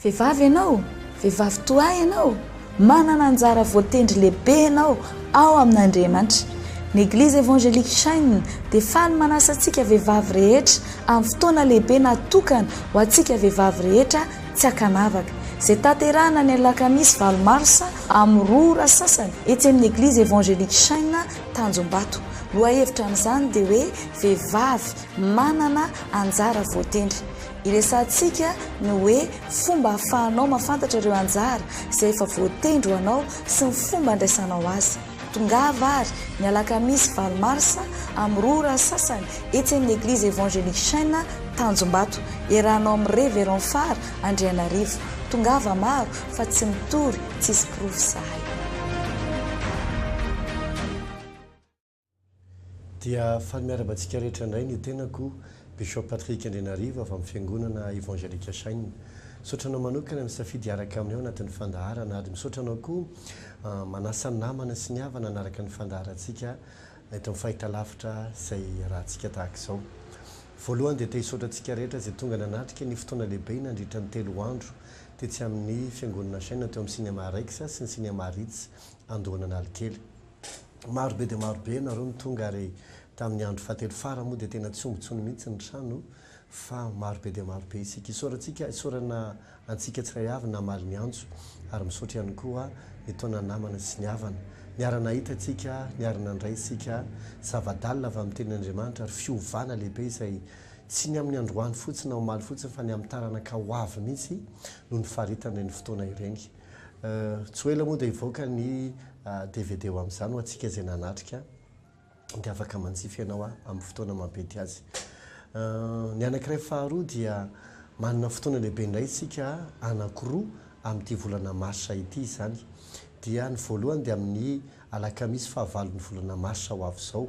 Vehivavy ianao, vehivavy toa ahy ianao, manana anjara voatendry lehibe ianao ao amin'Andriamanitra. Ny Eglizy Evangelique Shine dia faly manasa antsika vehivavy rehetra amin'ny fotoana lehibe natokana ho antsika vehivavy rehetra tsy ankanavaka, izay tanterahina ny alakamisy valo marsa amin'ny roa ora sasany etsy amin'ny Eglizy Evangelique Shine Tanjombato. Lohahevitra amin'izany dia hoe Vehivavy manana anjara voatendry. Iresahantsika ny hoe fomba ahafahanao mahafantatra ireo anjara izay efa voatendry ho anao sy ny fomba handraisanao azy. Tongava àry, ny alakamisy valo marsa, amin'ny roa ora sasany, etsy amin'ny Eglizy Evangelique Chêne, Tanjombato. Iarahanao amin'i Révérend Fara Andrianarivo. Tongava maro, fa tsy mitory, tsisy porofo izahay. Dia faly miarahaba antsika rehetra indray ny tenako, Bishop Patrick Andrianarivo avy amin'ny Fiangonana Evangelika Shine. Misaotra anao manokana nisafidy hiaraka aminay ao anatin'ny fandaharana ary misaotra anao koa manasa ny namana sy ny havana hanaraka ny fandaharantsika eto amin'ny fahitalavitra izay iarahantsika tahaka izao. Voalohany dia te hisaotra antsika rehetra izay tonga nanatrika ny fotoana lehibe nandritra ny telo andro tetsy amin'ny Fiangonana Shine teo amin'ny Cinema Rex sy ny Cinema Ritz Andohan'Analikely. Maro be dia maro be ianareo no tonga ary tamin'ny andro fahatelo fara moa dia tena tsy omby intsony mihitsy ny trano fa maro be dia maro be isika. Isaorantsika, isaorana antsika tsirairay avy namaly ny antso ary misaotra ihany koa ny taona namana sy ny havana. Niara-nahita isika, niara-nandray isika zava-dalina avy amin'ny Tenin'Andriamanitra ary fiovana lehibe izay tsy ny amin'ny androany fotsiny na omaly fotsiny fa ny amin'ny taranaka ho avy mihitsy no nifaritan'ireny fotoana ireny. Tsy ho ela moa dia hivoaka ny dvd ho amin'izany ho antsika izay nanatrika dia afaka manjifa ianao amin'ny fotoana maha be dia azy. Ny anankiray faharoa dia manana fotoana lehibe indray isika anankiroa amin'ity volana marsa ity izany. Dia ny voalohany dia amin'ny alakamisy fahavalon'ny volana marsa ho avy izao.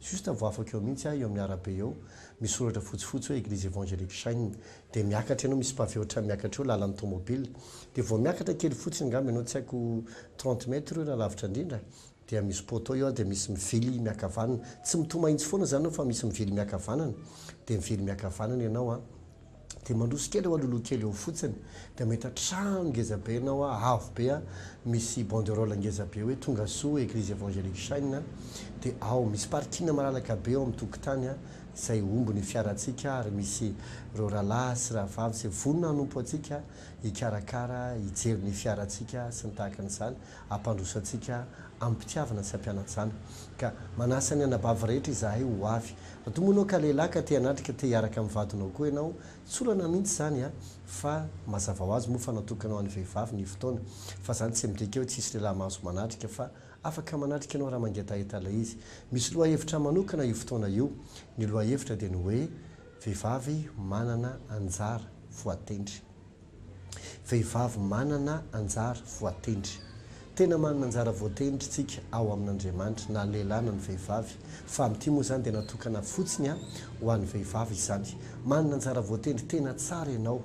Juste vao afaka eo mihintsy aho eo amin'ny arabe eo, misy soratra fotsifotsy hoe Eglise Evangelique Shine, dia miakatra enao, misy pavé ohatrany miakatra eo, lalan'ny tomobile, dia vao miakatra kely fotsiny angamba enao, tsy haiko trente mètres io raha lavitra indrindra, dia misy poteau eo dia misy mivily miakavanana, tsy mitoha mahitsy foana izany enao fa misy mivily miakavanana, dia mivily miakavanana enao an. Dia mandroso kely eo alohaloha kely eo fotsiny dia mahita trano ngeza be ianao a, avo be a, misy banderole ngeza be hoe tonga soa eglise evangelique shine a, dia ao misy parking malalaka be eo amin'ny tokotany a, izay omby ny fiarantsika ary misy ireo rahalahy sy rahavavy izay vonona hanompo antsika hikarakara hijery ny fiarantsika sy ny tahaka an'izany. hampandrosoantsika amim-pitiavana sy hampianatsana. Ka manasa ny anabavy rehetra izahay ho avy. Raha toa moa ianao ka lehilahy ka te hanatrika ka te hiaraka amin'ny vadinao koa ianao, tsy olana mihitsy izany an! Fa mazava ho azy moa fa natokana ho an'ny vehivavy ny fotoana. Fa izany tsy midika hoe tsy hisy lehilahy mahazo manatrika fa afaka manatrika ianao raha mangetaheta ilay izy. Misy lohahevitra manokana io fotoana io. Ny lohahevitra dia ny hoe vehivavy manana anjara voatendry. Vehivavy manana anjara voatendry. Tena manana anjara voatendry tsika ao amin'Andriamanitra na lehilahy na ny vehivavy fa amin'ity moa izany dia natokana fotsiny ho an'ny vehivavy izany. Manana anjara voatendry tena tsara ianao.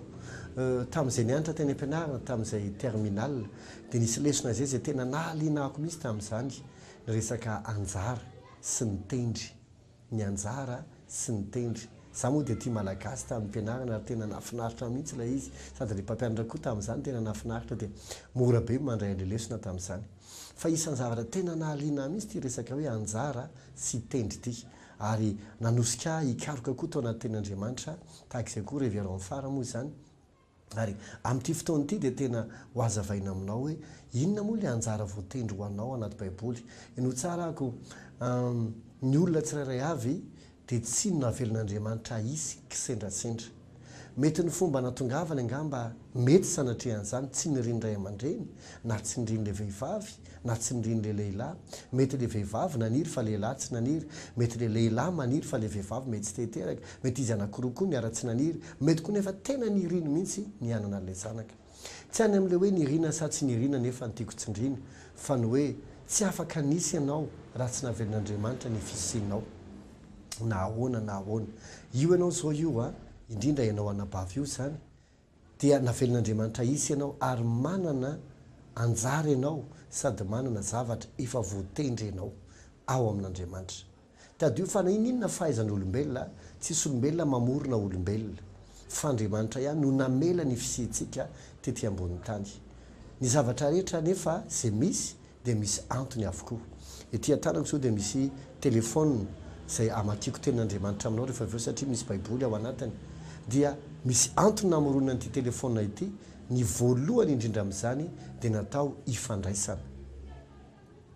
Tamin'izay nianatra teny am-pianarana tamin'izay terminal dia nisy lesona izay izay tena nahaliana ahy koa mihitsy tamin'izany ny resaka anjara sy ny tendry. ny anjara sy ny tendry. Za moa dia tia malagasy tamin'ny fianarana ary tena nafinaritra mihintsy ilay izy sady ilay mpampianatra koa tamin'izany tena nafinaritra dia mora be mandray an'ilay lesona tamin'izany. Fa isan'ny zavatra tena nahaliana ahy mihintsy ity resaka hoe anjara sy tendry ity ary nanosika ahy hikaroka koa tao anaty tenin'Andriamanitra tahaka izay koa revero amin'ny fara moa izany Ary amin'ity fotoana ity dia tena ho hazavaina aminao hoe inona moa ilay anjara voatendry ho anao anaty Baiboly. Ny ho tsarako, ny olona tsirairay avy dia tsy navelan'Andriamanitra hahisy kisendrasendra. Mety ny fomba natongavany angamba mety sanatria an'izany tsy nirin'ny ray aman-dreny na tsy nirin'ilay vehivavy. na tsy niriany le lehilahy, mety le vehivavy naniry fa lehilahy tsy naniry, mety le lehilahy maniry fa le vehivavy mety tsy te hiteraka, mety izy anakiroa koa niara tsy naniry, mety koa nefa tena niriany mihitsy ny hanana an'ilay zanaka. Tsy any amin'ilay hoe niriana sa tsy niriana anefa no tiako tsindriana fa ny hoe tsy afaka nisy ianao raha tsy navelan'Andriamanitra ny fisianao na ahoana na ahoana. Io ianao izao io an, indrindra ianao anabavy io izany, Dia navelin'Andriamanitra hisy ianao ary manana anjara ianao sady manana zavatra efa voatendry ianao ao amin'Andriamanitra. Tadidio fa na ininona fahaizan'olombelona, tsisy olombelona mamorona olombelona, fa Andriamanitra ihany no namela ny fisiantsika tety ambonin'ny tany. Ny zavatra rehetra anefa izay misy dia misy antony avokoa. Ety an-tanako izao dia misy telefaonina izay amakiako tenin'Andriamanitra aminao rehefa avy eo satria misy Baiboly ao anatiny. Dia misy antony namoronana ity telefaonina ity. Ny voalohany indrindra amin'izany dia natao hifandraisana.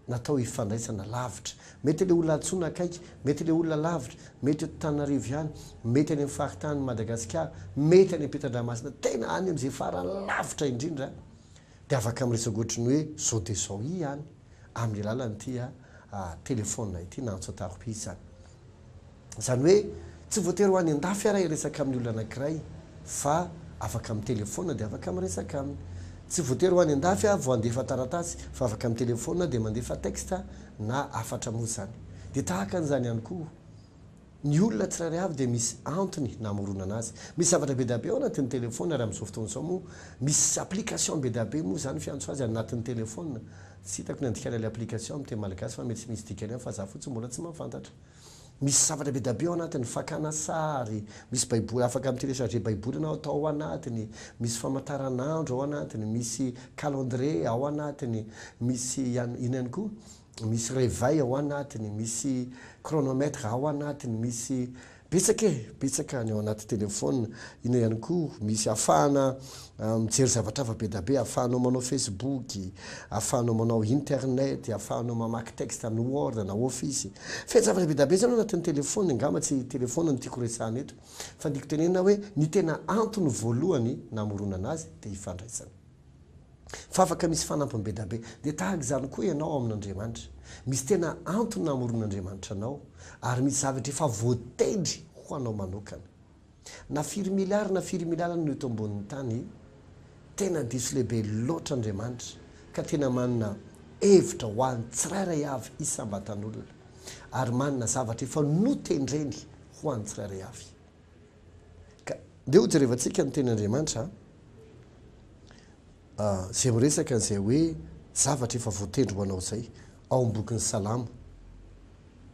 Natao hifandraisana lavitra. Mety ilay olona antsoina akaiky, mety ilay olona lavitra, mety eto Tananarivo ihany, mety any amin'ny faritanin'i Madagasikara, mety any am-pitandramasina, tena any amin'izay farany lavitra indrindra. Dia afaka miresaka ohatry ny hoe izao dia izao ihany amin'ny alalan'ity telefaonina ity na antsatarobisa. Izany hoe tsy voatery ho any an-dafy ary hiresaka amin'ny olona anankiray fa afaka amin'ny telefaonina dia afaka miresaka aminy. Tsy voatery ho any an-dafy aho vao handefa taratasy fa afaka amin'ny telefaonina dia mandefa texte na hafatra moa izany. Dia tahaka an'izany ihany koa Ny olona tsirairay avy dia misy antony namoronana azy. Misy zavatra be dia be ao anatin'ny telefaonina ary amin'izao fotoana izao moa misy application be dia be moa izany fiantso azy anatin'ny telefaonina. Tsy hitako ny andikana ilay application amin'ny teny malagasy fa mety tsy misy dikany ihany fa za fotsiny mbola tsy mahafantatra. Misy zavatra be dia be ao anatiny, fakana sary, misy baiboly, afaka mi-télécharger baiboly ianao atao ao anatiny, misy famantaranandro ao anatiny, misy calendrier ao anatiny, misy ihany, inona ihany koa? misy reveil ao anatiny, misy chronomètre ao anatiny, misy betsaka e! betsaka ny ao anaty telephone, ina ihany koa misy afahana mijery zavatra hafa be da be, afahanao manao facebook, afahanao manao internet, afahanao mamaky texte amin'ny word na office, feno zavatra be da be zany ao anatin'ny telephone, angamba tsy telephone no tiako resahana eto fa ny tiako tenenina hoe ny tena antony voalohany namoronana azy dia ifandraisana. fa afaka misy fanampiny be dia be. Dia tahaka izany koa ianao ao amin'Andriamanitra. Misy tena antony namoron'Andriamanitra anao, ary misy zavatra efa voatendry ho anao manokana. Na firy miliara na firy miliara no eto ambonin'ny tany, tena diso lehibe loatra Andriamanitra, ka tena manana hevitra ho an'ny tsirairay avy isam-batan'olona, ary manana zavatra efa notendreny ho an'ny tsirairay avy. Ka ndeha ho jerevantsika ny tenin'Andriamanitra izay miresaka an'izay hoe zavatra efa voatendry ho anao izay ao amin'ny bokin'ny Salamo.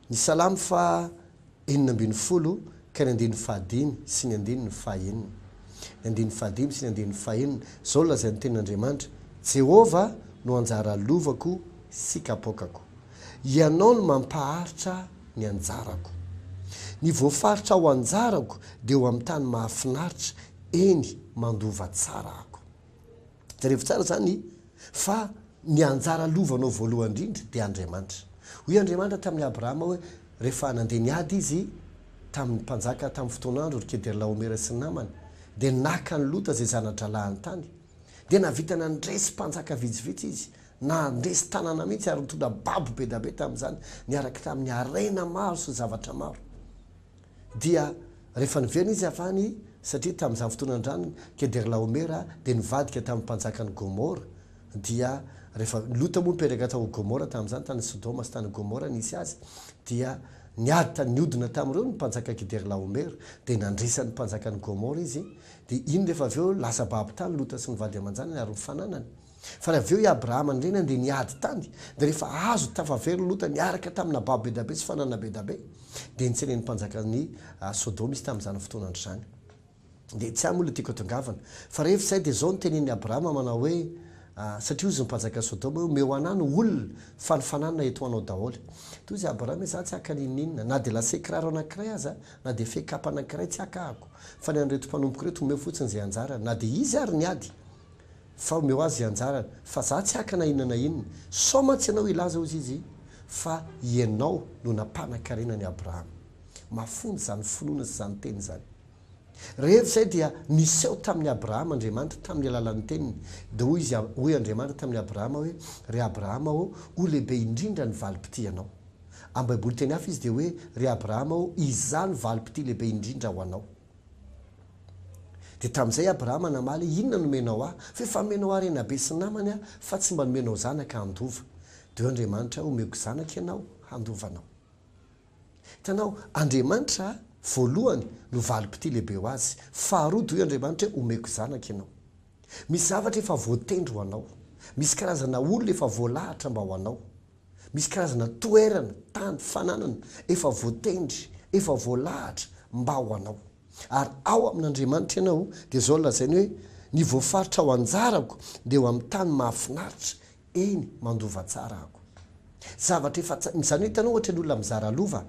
Ny Salamo faha enina ambin'ny folo ka ny andininy fahadimy sy ny andininy fahenina. Ny andininy fahadimy sy ny andininy fahenina, izao no lazain'ny tenin'Andriamanitra, Jehovah no anjara lovako sy kapoakako. Ianao no mampaharitra ahy. ny anjarako. Ny voafaritra ho anjarako dia eo amin'ny tany mahafinaritra, eny, mandova tsara aho. Jerevo tsara izany fa ny anjara lovanao voalohany indrindra dia Andriamanitra. Hoy Andriamanitra tamin'i Abrahama hoe rehefa nandeha niady izy tamin'ny mpanjaka tamin'ny fotoan'andro, ry Kedorlaomera sy Namana, dia naka an'i Lota izay zana-drahalahiny tany. dia nahavita nandresy mpanjaka vitsivitsy izy, nandresy tanàna mihitsy, ary nitondra babo be dia be tamin'izany, niaraka tamin'ny harena maro sy zavatra maro. Dia rehefa niverina izy avy any, satria tamin'izany fotoana andrany, Kedorlaomera dia nivadika tamin'ny mpanjakan'i Gomora, dia rehefa Lota moa nipetraka tao Gomora tamin'izany, tany Sodoma sy tany Gomora nisy azy, dia niady tany niodina tamin'ireo ny mpanjaka Kedorlaomera, dia nandresy an'ny mpanjakan'i Gomora izy, Dia iny rehefa avy eo lasa babo tany Lota sy ny vady aman-janany ary ny fananany. Fa avy eo i Abrahama ny reniny dia niady tany, dia rehefa azo tafa very Lota niaraka tamina babo be dia be sy fananana be dia be, dia nitseren'ny mpanjakan'i Sodoma izy tamin'izany fotoana andro izany. Dia tsy ahy moa ilay tiako atongavana. Fa rehefa izay dia izao no tenenin'i Abrahama manao hoe, satria hozy ny mpanjakan'i Sodoma hoe, omeo anah ny olona fa ny fananana etoanao daholo. Dia hozy Abrahama hoe, izaho tsy haka n'inon'inona, na dia lase kiraro anankiray aza Na dia fekapa anankiray tsy hakahako, fa ny an'ireto mpanompoko ireto omeo fotsiny izay anjarany, na dia izy ary ny ady, fa omeo azy izay anjarany, fa za tsy haka na inona na inona. Sao mantsy ianao hilaza, hozy izy, fa ianao no nampanan-karena an'i Abrahama. Mafonja izany finoana sy izany teny izany. Rehefa izay dia niseho tamin'i Abrahama Andriamanitra tamin'ny alalan'ny teniny, dia hoy izy, hoy Andriamanitra tamin'i Abrahama hoe, Ry Abrahama ô, ho lehibe indrindra ny valim-pitia anao. Amin'ny Baiboly teny hafa izy dia hoe, Ry Abrahama ô, izaho no valim-pitia lehibe indrindra ho anao. Dia tamin'izay Abrahama namaly, Inona no omenao ahy? Fa efa nomenao harena be sy namany aho, fa tsy mba nomenao zanaka handova. Dia hoy Andriamanitra, Homeko zanaka ianao handova anao. Hitanao, Andriamanitra, voalohany, no valim-pitia lehibe ho azy. Faharoa, dia hoy Andriamanitra hoe, Homeko zanaka ianao. Misy zavatra efa voatendry ho anao. Misy karazana olona efa voalahatra mba ho anao. Misy karazana toerana, tany, fananana efa voatendry, efa voalahatra mba ho anao. Ary ao amin'Andriamanitra ianao dia izao no lazainy hoe, Ny voafaritra ho anjarako dia eo amin'ny tany mahafinaritra, eny, mandova tsara ako. Zavatra efa tsara, izany hoe hitanao ohatra ny olona mizara lova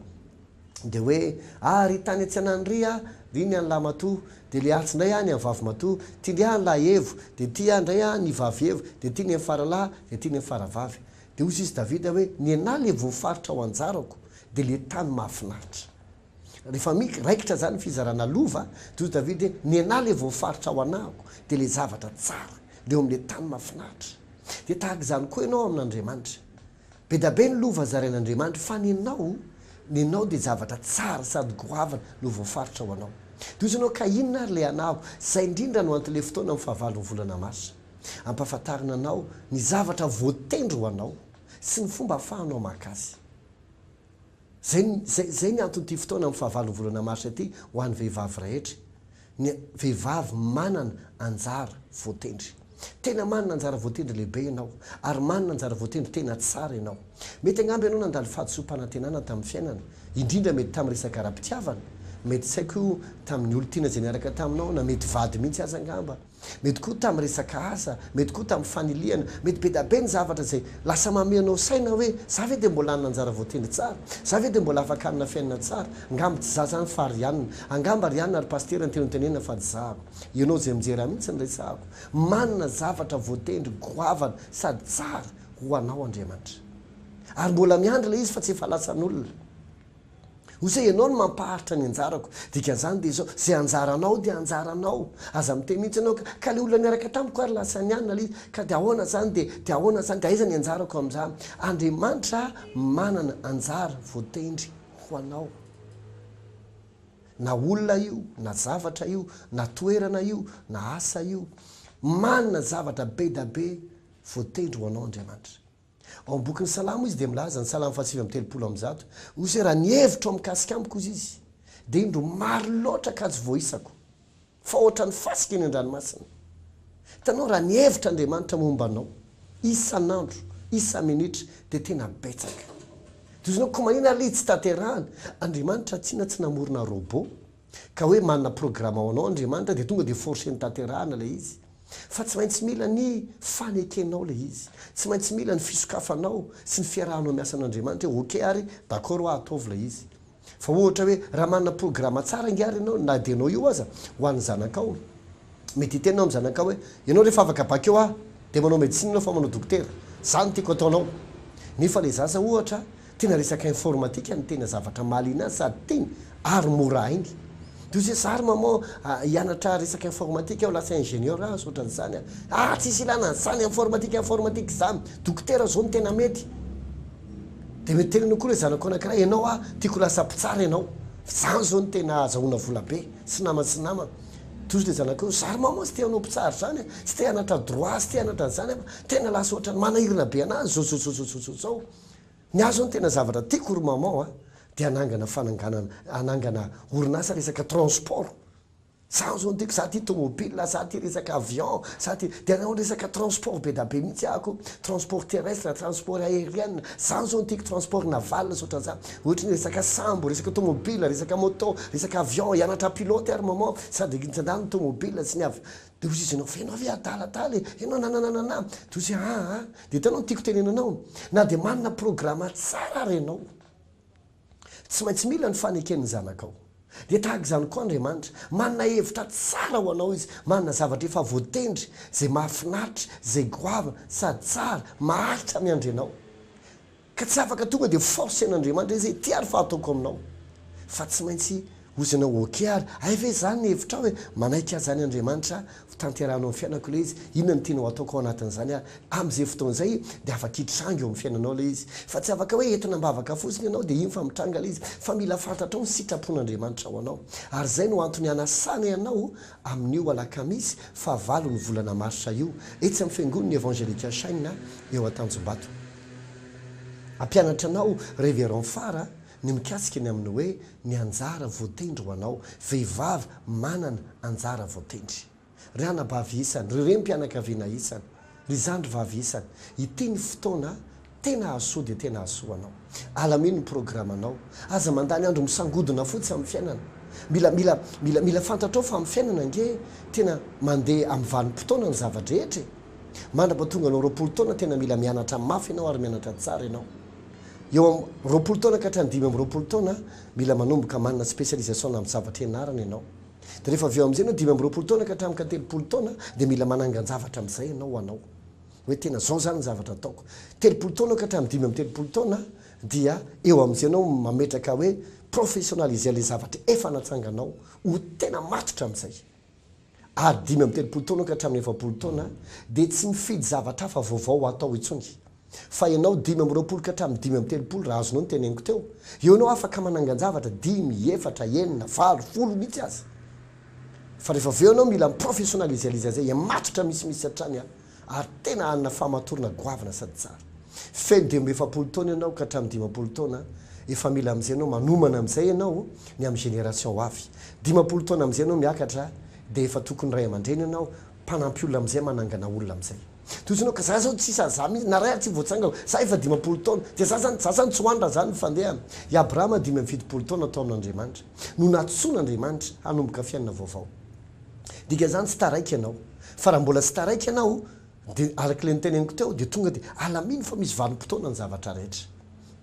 dia hoe, ah ry tany an-tseanany ry ah, ry ny an'i Lahamatoa, dia le atsy indray ah ny an'i Vavimatoa, ty ndry ah ny Lahaevo, dia ty ah indray ah ny Vavievo, dia ty ny an'i Faralahy, dia ty ny an'i Faravavy. Dia hoy izy Davida hoe, Ny anà ilay voafaritra ho anjarako, dia ilay tany mahafinaritra. Rehefa mic, raikitra izany ny fizarana lova, dia hoy Davida hoe, Ny anà ilay voafaritra ho anako, dia ilay zavatra tsara, dia eo amin'ilay tany mahafinaritra. Dia tahaka izany koa ianao amin'Andriamanitra. Be dia be ny lova zarain'Andriamanitra, fa ny anao, ny anao dia zavatra tsara sady goavana no voafaritra ho anao. Dia hoy izy ianao, Ka inona ary ilay anako? Izay indrindra no anton'ilay fotoana amin'ny fahavalon'ny volana marsa. Ampahafantarina anao ny zavatra voatendry ho anao sy ny fomba ahafahanao maka azy. Izay, izay, izay ny anton'ity fotoana amin'ny fahavalon'ny volana marsa ity ho an'ny vehivavy rehetra, ny vehivavy manana anjara voatendry. Tena manana anjara voatendry lehibe ianao, ary manana anjara voatendry tena tsara ianao. Mety angamba ianao nandalo fahadisoam-panantenana tamin'ny fiainana, indrindra mety tamin'ny resaka ara-pitiavana, mety tsy haiko tamin'ny olon-tiana izay niaraka taminao, na mety vady mihitsy aza angamba. Mety koa tamin'ny resaka asa, mety koa tamin'ny fanilihana, mety bedabe ny zavatra izay lasa mameanao saina hoe, za ve dia mbola hanana anjara voatendry tsara? Za ve dia mbola afaka hanana fiainana tsara? Angamba tsy za zany fa Rianina. Angamba Rianina ry Pasitera no tianao hotenenina fa tsy zako. Ianao izay mijery ahy mihitsy no resahako. Manana zavatra voatendry goavana sady tsara ho anao Andriamanitra. Ary mbola miandry ilay izy fa tsy efa lasan'olona. Osa ianao no mampaharitra ny anjarako. Dikan'izany dia izao, izay anjaranao dia anjaranao. Aza miteny mihitsy ianao ka, ka ilay olona niaraka tamiko ary lasa nianona ilay izy, ka dia ahoana izany dia, dia ahoana izany dia aiza ny anjarako amin'izany? Andriamanitra manana anjara voatendry ho anao. Na olona io, na zavatra io, na toerana io, na asa io. Manana zavatra be da be voatendry ho anao Andriamanitra. Ao amin'ny bokin'ny Salamo izy dia milaza, ny Salamo fahasivy amby telopolo amby zato, Osy hoe, Raha ny hevitro mikasika amiko, hozy izy, dia indro maro loatra ka tsy voaisako, fa hoatran'ny fasika eny an-dranomasina. Hitanao, raha ny hevitr'Andriamanitra momba anao, isan'andro, isa-minitra, dia tena betsaka. Dia hozy ianao, koa manina ary le izy tsy tanterahana? Andriamanitra tsinona tsy namorona robot, ka hoe manana programa ho anao Andriamanitra dia tonga dia forceny tanterahana ilay izy fa tsy maintsy mila ny fanekenao ilay izy, tsy maintsy mila ny fisokafanao sy ny fiarahanao miasa an'Andriamanitra hoe ok ary d'accord hoa ataovy ilay izy fa ohatra hoe raha manana programa tsara ange ary ianao na dia ianao io aza ho an'ny zanakao mety hiteny ianao amin'ny zanakao hoe ianao rehefa afaka bac eo ah dia manao medecine ianao fa manao dokotera, zany tiako ataonao nefa ilay zaza ohatra Tena resaka informatika no tena zavatra mahaliana ahy sady tiany ary mora hainy. Dia hozy zary maman a, hianatra resaka informatika aho lasa ingenieur aho sa otran'izany a. Ah tsisy ilana an'izany, informatika informatika izany, dokotera izao no tena mety. Dia mety teneno koa ilay zanako anakiray, ianao a, tiako ho lasa mpitsara ianao, f'izany izao no tena azahoana vola be, sy namany sy namany. Dia hozy ilay zanako hoe, zary maman tsy te hanao mpitsara izany a, tsy te hanatra droit, tsy te hanatra an'izany aho fa tena lasa ohatran'ny manahirana be anazy izao, zao, zao, zao, zao, zao, zao. Ny ahy zao ny tena zavatra tiako ry maman a, dia hanangana fananganana, hanangana orinasa resaka transport, zany zao no tiako, za tia tomobile, za tia resaka avion, za tia, dia hanao resaka transport be da be mihitsy aho ko, transport terrestre, transport aerienne, zany zao no tiako, transport naval sy otran'zany, ohatry ny resaka sambo, resaka tomobile, resaka moto, resaka avion, hianatra pilote aho ry maman, sady zany ny tomobile sy ny avion. Dia hozy izy, Nofeno aho ve adala adala e? Ianao nananananaa. Dia hozy, Aa, dia hitanao ny tiako tenena anao, na dia manana programa tsara ary ianao, tsy maintsy mila ny faneken'ny zanakao. Dia tahaka izany koa Andriamanitra, manana hevitra tsara ho anao Izy, manana zavatra efa voatendry, izay mahafinaritra, izay goavana, sady tsara, maharitra miandry anao. Ka tsy afaka tonga dia force an'Andriamanitra hoe zay ty ary fa ataoko aminao fa tsy maintsy ozana ho ok ary hay ve zany ny hevitrao e manaiky aza any Andriamanitra ho tanterahanao amin'ny fiainako ilay izy inona no tianao ataoko ao anatin'izany ary amin'izay fotoana izay dia afaka hitranga eo amin'ny fiainanao ilay izy fa tsy afaka hoe entina am-bavaka fotsiny ianao dia iny fa mitranga ilay izy fa mila fantatrao ny sitrapon'Andriamanitra ho anao ary zay no antony anasanay anao amin'io alakamisy faha valo ny volana marsa io etsy amin'ny fiangon'ny Evangelical Shine eo Antanjombato. Hampianatra anao Révérend Fara ny mikasika ny amin'ny hoe ny anjara voatendry ho anao, vehivavy manana anjara voatendry. Ry anabavy isany, ry renim-pianakaviana isany, ry zandry vavy isany, ity ny fotoana tena hahasoa dia tena hahasoa anao. Alamino ny programanao. Aza mandany andro misangodina fotsy amin'ny fiainana. Mila, mila, mila, mila fantatrao fa amin'ny fiainana ange tena mandeha amin'ny vanim-potoana ny zava-drehetra e! Mandrapa tonga anao roapolo taona tena mila mianatra mafy ianao ary mianatra tsara ianao. Eo am roapolo taona ka hatrany dimy amby roapolo taona mila manomboka manana spécialisation na am zavatra ianarana ianao. De refa avy eo amzay ianao dimy amby roapolo taona ka hatram ka telopolo taona de mila manangan javatra amzay ianao ho anao. Oe tena zao zany ny zavatra ataoko. Telopolo taona ka hatram dimy amby telopolo taona dia eo amzay ianao mametraka oe professionaliser le zavatra efa natsanganao ho tena matotra amzay. ary dimy amby telopolo taona ka hatramin'ny efapolo taona, dia tsy mifidy zavatra hafa vaovao ho atao intsony. Fa ianao dimy amby roapolo ka hatramin'ny dimy amby telopolo, raha azonao ny teneniko teo, eo ianao afaka manangan-javatra, dimy, efatra, enina, valo, folo mihitsy aza. Fa rehefa avy eo ianao mila mi-professionalisealiser izay, matotra misimisy hatrany an! ary tena hanana fahamatorana goavana sady tsara. Feno dia mba efapolo taona ianao ka hatramin'ny dimampolo taona, efa mila amin'izay ianao manomana amin'izay ianao ny amin'ny génération ho avy. Dimampolo taona amin'izay ianao miakatra dia efa tokony ray aman-dreny ianao, mpanampy olona amin'izay, manangana olona amin'izay. Toy izao ianao ka za zao tsisa za mihitsy na ray ary tsy voatsangako, za efa dimampolo taona, dia za zany, za zany tsy ho any raha zany ny fandehana. I Abrahama dimy amby fitopolo taona tao amin'Andriamanitra no nantsoin'Andriamanitra hanomboka fiainana vaovao. Dikan'izany tsy taraiky ianao. Fa raha mbola tsy taraiky ianao, dia araka ilay noteneniko teo, dia tonga dia alamino fa misy vanim-potoana ny zavatra rehetra.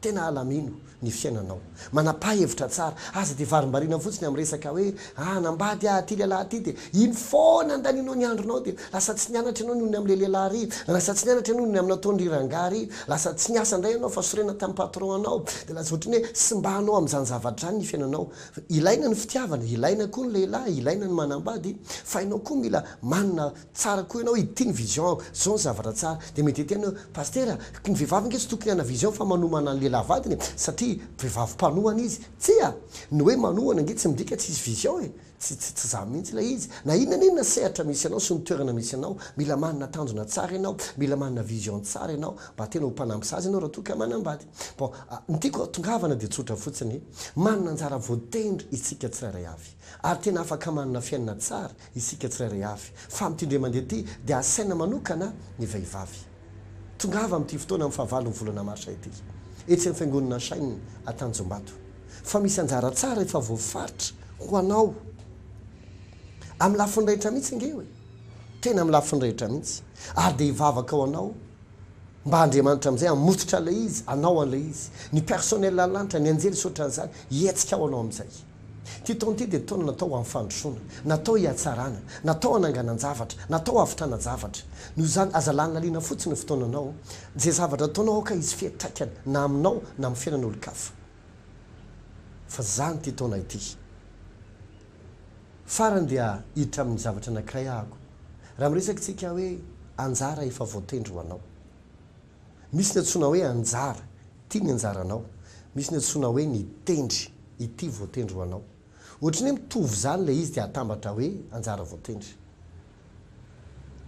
Tena alamino ny fiainanao. Manapa-hevitra tsara. Aza dia varimbariana fotsiny amin'ny resaka hoe, ah, hanambady aho ity lehilahy ity, dia iny foana andaninao ny andronao, dia lasa tsy nianatra ianao noho ny amin'ilay lehilahy ary, lasa tsy nianatra ianao noho ny amin'ny nataon-dry rangahy ary, lasa tsy niasa indray ianao fa sorena tamin'ny patron-nao, dia lasa ohatran'ny hoe simbanao amin'izany zavatra izany ny fiainanao. Ilaina ny fitiavana, ilaina koa ny lehilahy, ilaina ny manambady, fa ianao koa mila manana tsara koa ianao hoe ity ny vision ako, zao ny zavatra tsara. Dia mety hiteny hoe, Pasitera, ny vehivavy ange tsy tokony hanana vision fa manomana ny lehilahy vadiny e, satria vehivavy mpanohana izy. Tsia! Ny hoe manohana ange tsy midika tsy hisy vision e! Tsy, tsy, tsy zany mihitsy ilay izy. Na inona na inona sehatra misy anao sy ny toerana misy anao, mila manana tanjona tsara ianao, mila manana vision tsara ianao, mba tena ho mpanampy zaza ianao raha toa ka manambady. Bon, ny tiako hahatongavana dia tsotra fotsiny, manana anjara voatendry isika tsirairay avy. Ary tena afaka manana fiainana tsara isika tsirairay avy, fa amin'ity indray mandeha ity dia asaina manokana ny vehivavy. Tongava amin'ity fotoana amin'ny fahavalon'ny volana marsa ity, etsy amin'ny Fiangonana Shine Antanjombato, fa misy anjara tsara efa voafaritra ho anao. Amin'ny lafiny rehetra mihitsy ange e! Tena amin'ny lafiny rehetra mihitsy. Ary dia hivavaka ho anao mba Andriamanitra amin'izay hamototra an'ilay izy, hanao an'ilay izy. Ny personnel any lanitra, ny anjely sy ohatran'izany, hihetsika ao anao amin'izay. Ity taona ity dia taona natao ho an'ny fandrosoana, natao hihatsarana, natao hananganan-javatra, natao hahavitrana zavatra. Noho izany, aza lalinaliana fotsiny ny fotoananao. Izay zavatra ataonao aoka hisy fiantraikany na aminao na amin'ny fiainan'olon-kafa. Fa izany ity taona ity. Farany dia hiditra amin'ny zavatra anankiray ahako. Raha miresakitsika hoe anjara efa voatendry ho anao. Misy ny antsoina hoe anjara, ity ny anjaranao. Misy ny antsoina hoe ny tendry, ity voatendry ho anao. Ohatry ny hoe mitovy izany ilay izy dia atambatra hoe anjara voatendry.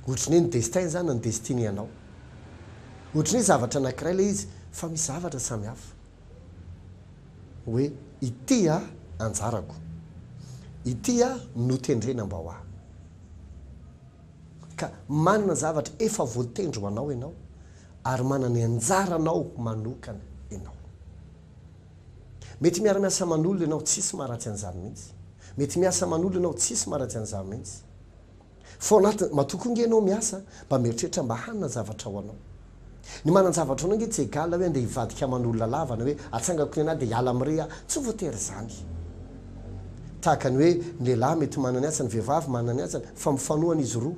Ohatry ny hoe ny destin izany na ny destiny anao. Ohatry ny hoe zavatra anankiray ilay izy fa misy zavatra samy hafa. Hoe ity aho anjarako. Ity aho notendrena mba ho ahy. Ka manana zavatra efa voatendry ho anao ianao ary manana ny anjaranao manokana ianao. Mety miara-miasa aman'olona ianao, tsisy maharatsy an'izany mihitsy. Mety miasa aman'olona ianao, tsisy maharatsy an'izany mihitsy. Foana aty, matoa koa nge ianao miasa mba mieritreritra mba hanana zavatra ho anao. Ny manan-javatra ho anao nge tsy egal hoe andeha hivadika aman'olona lava na hoe atsangako ny anah dia hiala amin'irey aho, tsy voatery izany. Tahaka ny hoe ny lehilahy mety manana ny asany, ny vehivavy manana ny asany fa mifanohana izy roa.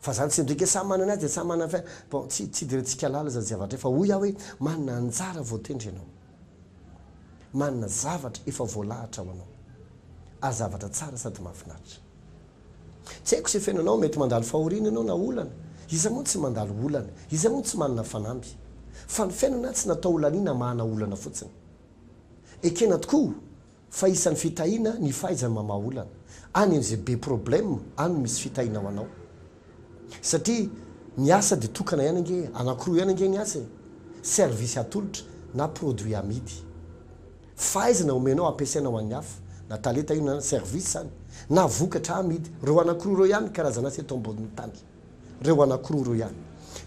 Fa izany tsy midika hoe samy manana ny azy dia samy manana ny fiainany. Bon, tsy tsy idirantsika halala izany zavatra izany fa hoy aho hoe manana anjara voatendry ianao. Manana zavatra efa voalahatra ho anao. Ary zavatra tsara sady mahafinaritra. Tsy haiko izay fiainanao, mety mandalo fahoriana ianao na olana. Iza moa no tsy mandalo olana? Iza moa no tsy manana fanamby? Fa ny fiainana tsy natao holaniana hamahana olana fotsiny. Ekena tokoa Fa isan'ny fitahiana ny fahaizany mamaha olana. Any amin'izay be problème any no misy fitahiana ho anao. Satria ny asa dia tokana ihany ange, anankiroa ihany ange ny asa e, service atolotra na produit amidy. Fahaizana omenao ampiasaina ho an'ny hafa, na talenta io na service izany, na vokatra amidy. Ireo anankiroa ireo ihany ny karazan'asa eto ambonin'ny tany. Reo anakiroa reo ihany.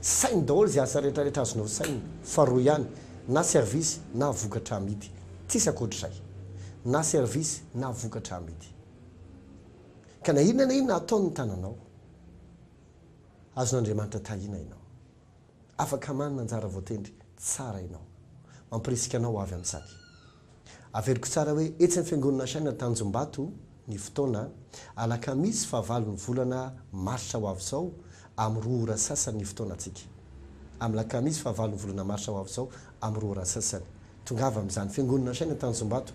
Saino daholo ze asa rehetra rehetra azonao saina fa reo ihany na service na vokatra amidy. Tsisy akoatrizay. Na service na vokatra amidy. Ka na inona na inona ataon ny tananao. Azon Andriamanitra tahina ianao. Afaka manana anjara voatendry tsara ianao. Mampirisika anao ho avy an-tsaky. Averiko tsara hoe etsy amin'ny Fiangonana Shina Tanjombato ny fotoana, alakamisy fahavalon'ny volana marsa ho avy izao amin'ny roa ora sasany ny fotoanantsika. Amin'ny lakamisy fahavalon'ny volana marsa ho avy izao amin'ny roa ora sasany. Tongava amin'izany Fiangonana Shina Tanjombato.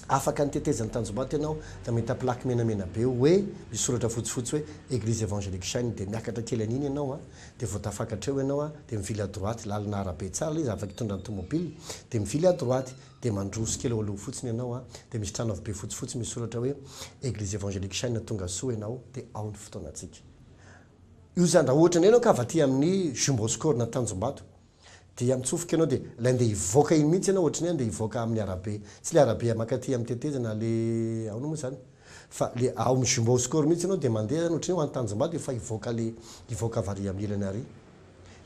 Afaka ny tetezan'ny tanjombato ianao dia mahita plaque menamena be hoe misy soratra fotsifotsy hoe Eglise Evangelique Shine dia miakatra kely an'iny ianao a dia vao tafakatra eo ianao a dia mivily à droite lalana arabe tsara ilay izy afaka hitondra ny tomobile dia mivily à droite dia mandroso kely eo aloha fotsiny ianao a dia misy trano avo be fotsifotsy misy soratra hoe Eglise Evangelique Shine tonga soa ianao dia ao ny fotoanantsika io zany raha ohatra indray ianao ka avy aty amin'ny Jumboscourt na Tanjombato Dia mitsofoka ianao dia ilay andeha hivoaka iny mihitsy ianao ohatry ny hoe andeha hivoaka amin'ny arabe. Tsy ilay arabe mankaty amin'ny tetezana le aona moa izany? Fa ilay ao amin'ny Jumbo Score mihitsy ianao dia mandeha izany ohatry ny hoe ho any Tanjombato efa hivoaka ilay hivoaka avy ary amin'ny ilany ary.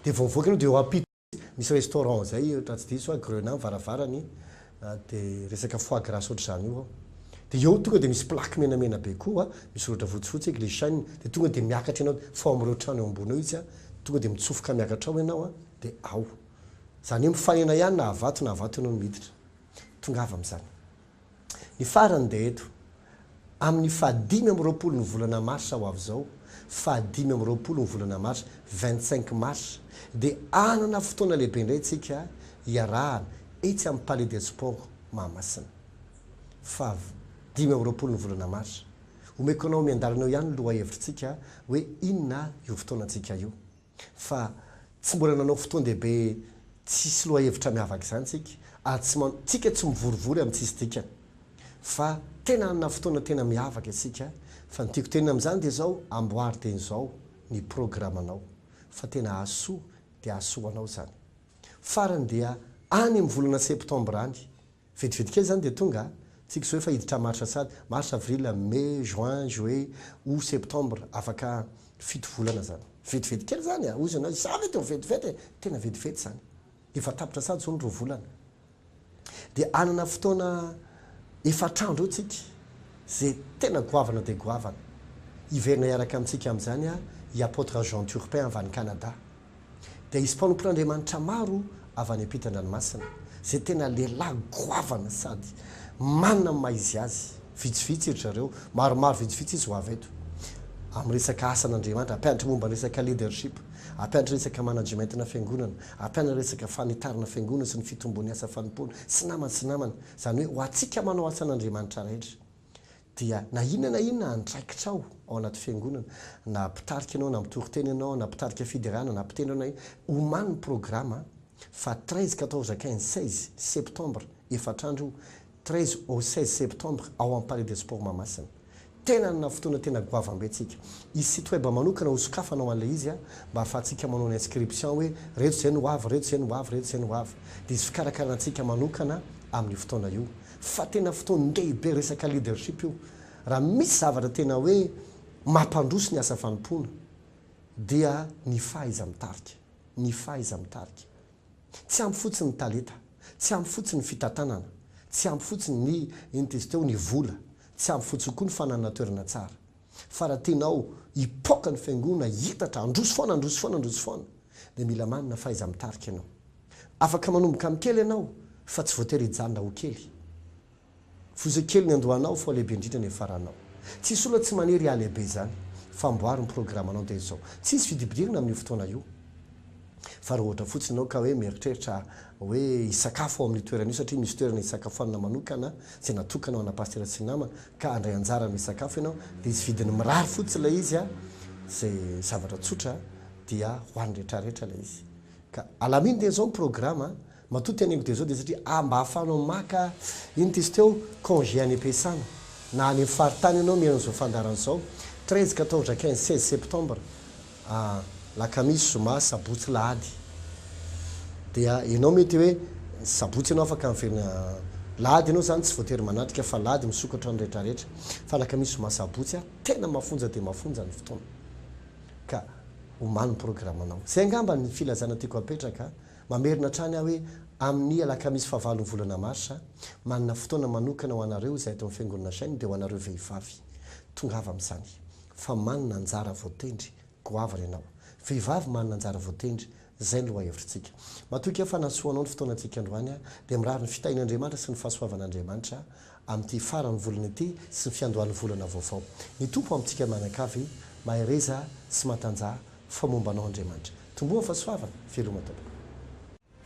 Dia vao mivoaka ianao dia eo ampita mihitsy misy restaurant izay raha tsy diso aho Grenat ny varavarany. dia resaka foie gras ohatr'izany io ao, dia eo tonga dia misy plaque menamena be koa misy soratra fotsifotsy hoe glycine, dia tonga dia miakatra ianao, fa ao amin'ireo trano eo ambony eo izy, tonga dia mitsofoka miakatra ao ianao dia ao, izany hoe mifanena ihany na havato na havato ianao no miditra, tongava amin'izany. Ny farany dia eto, Amin'ny fahadimy amby roapolo ny volana marsa ho avy izao, fahadimy amby roapolo ny volana marsa, vingt cinq mars, dia hanana fotoana lehibe indray isika hiarahana etsy amin'ny Palais des Sports Mahamasina. Fav. Dimy amby roapolo ny volana marsa. Omeko anao miandalana eo ihany ny lohahevitrintsika hoe inona io fotoanantsika io. fa tsy mbola nanao fotoan-dehibe tsisy lohahevitra miavaka izany tsika ary tsy man tsika tsy mivorivory amin'ny tsisy dikany fa tena hanana fotoana tena miavaka isika fa ny tiako tenina amin'izany dia izao amboary teny izao ny programanao fa tena hahasoa dia hahasoa ho anao izany farany dia any amin'ny volana septambra any Vedivedika kely izany dia tonga a! Tsy kizoy fa hiditra marsa sady, mars, avril, mai, juin, juillet, aout, septembre, afaka fito volana izany. Vetivety kely izany a! Hoy izy anao, izaho ve dia ho vetivety e! Tena vetivety izany. Efa tapitra sady izao ny roa volana. Dia hanana fotoana efatr'andro eo tsika izay tena goavana dia goavana. Hiverina hiaraka amintsika amin'izany a! i Apotre Jean Turpin avy any Canada. dia hisy mpanompon'Andriamanitra maro avy any am-pitan-dranomasina, izay tena lehilahy goavana sady manana ny maha izy azy. Vitsivitsy ry zareo, maromaro vitsivitsy izy ho avy eto, amin'ny resaka asan'Andriamanitra, hampianatra momba ny resaka leadership, hampianatra resaka managementina fiangonana, hampianatra resaka fanitarana fiangonana sy ny fitombon'ny asa fanompoana, sy namany sy namany, izany hoe ho antsika manao asan'Andriamanitra rehetra. Dia na inona na inona andraikitra ao ao anaty fiangonana, na mpitarika ianao, na mitory teny ianao, na mpitarika fiderana, na mpitendry ianao na inona, omano ny programa fa treize, quatorze, quinze, seize septembre, efatra andro io, treize au seize septembre ao amin'ny Palais des Sports Mahamasina. Tena hanana fotoana tena goavam-be tsika. Hisy site web manokana ho sokafana ho an'ilay izy mba hahafahantsika manao ny inscription hoe reto izay no ho avy, reto izay no ho avy, reto izay no ho avy. Dia hisy fikarakarana antsika manokana amin'io fotoana io. Fa tena fotoan-dehibe resaka leadership io. Raha misy zavatra tena hoe mampandroso ny asa fanompoana dia ny fahaiza-mitarika, ny fahaiza-mitarika. Tsy ampy fotsiny ny talenta, tsy ampy fotsiny ny fitantanana, tsy ampy fotsiny ny, inona izy teo, ny vola, tsy ampy fotsiny koa ny fananana toerana tsara. Fa raha tianao hipoaka ny fiangoana hiitatra, handroso foana, handroso foana, handroso foana, dia mila manana fahaiza-mitarika ianao. Afaka manomboka amin'ny kely ianao, fa tsy voatery hijanona ho kely. Foza kely ny andohanao, fa ho lehibe indrindra ny faranao. Tsy hisy olona tsy maniry hahalehibe izany. Fa amboary ny programanao dia izao. Tsy hisy vidibidirana amin'io fotoana io. Fa raha ohatra fotsiny ianao ka hoe mieritreritra hoe hisakafo ao amin'io toerana io satria misy toerana hisakafoanana manokana izay natokana ho ana pasitera sy ny namana ka handray anjara amin'ny sakafo ianao dia izy vidiny mirary fotsiny ilay izy a izay zavatra tsotra dia ho an'ny rehetrarehetra ilay izy ka alaminy dia izao ny programa Matoa te hanengo dia zao dia satria ah mba ahafahanao maka inona ty izy teo congé any am-piasana na any am faritany ianao mihaino an'izao fandaharana izao treize, quatorze, quinze, seize septembre ah lakamisy, zoma, sabotsy, alahady dia ianao mety hoe ny sabotsy ianao afaka miverina alahady ianao izany tsy voatery manatrika fa alahady misokatra ny rehetra rehetra fa alakamisy, zoma, sabotsy ah tena mafonja dia mafonja ny fotoana ka omaly ny programanao. Izay angamba ny filazana tiako apetraka. Mamerina hatrany aho hoe amin'ny alakamisy fahavalon'ny volana marsa, manana fotoana manokana ho anareo izay ato amin'ny Fiangonana Shine dia ho anareo vehivavy. Tongava amin'izany. Fa manana anjara voatendry. Goavana ianao. Vehivavy manana anjara voatendry. Izay ny lohahevitrintsika. Matoky aho fa nahasoa anao ny fotoanantsika androany aho, dia mirary ny fitahian'Andriamanitra sy ny fahasoavan'Andriamanitra amin'ity faran'ny volana ity sy ny fiandohan'ny volana vaovao. Ny Tompo amintsika mianakavy mahereza sy matanjaha Fa momba anao Andriamanitra. Tomboa fa soavana, veloma daholo.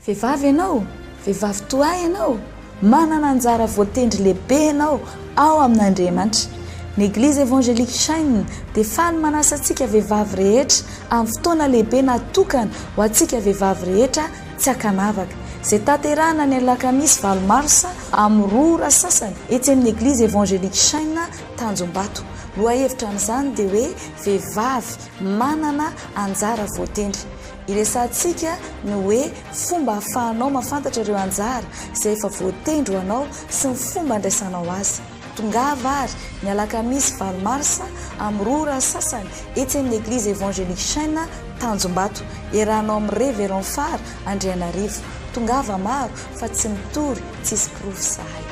Vehivavy ianao, vehivavy toa ahy ianao, manana anjara voatendry lehibe ianao ao amin'Andriamanitra. Ny Eglizy Evangelique Shine dia faly manasa antsika vehivavy rehetra amin'ny fotoana lehibe natokana ho antsika vehivavy rehetra tsy ankanavaka, izay tanterahina ny alakamisy valo marsa amin'ny roa ora sasany etsy amin'ny Eglizy Evangelique Shine Tanjombato. Lohahevitra amin'izany dia hoe Vehivavy, Manana anjara voatendry. Iresahantsika ny hoe fomba ahafahanao mahafantatra ireo anjara izay efa voatendry ho anao sy ny fomba andraisanao azy. Tongava àry, ny alakamisy valo marsa, amin'ny roa ora sasany, etsy amin'ny Eglizy Evangelique Chêne, Tanjombato. Iarahanao amin'i Révérend Far Andrianarivo. Tongava maro, fa tsy mitory, tsisy porofo izahay.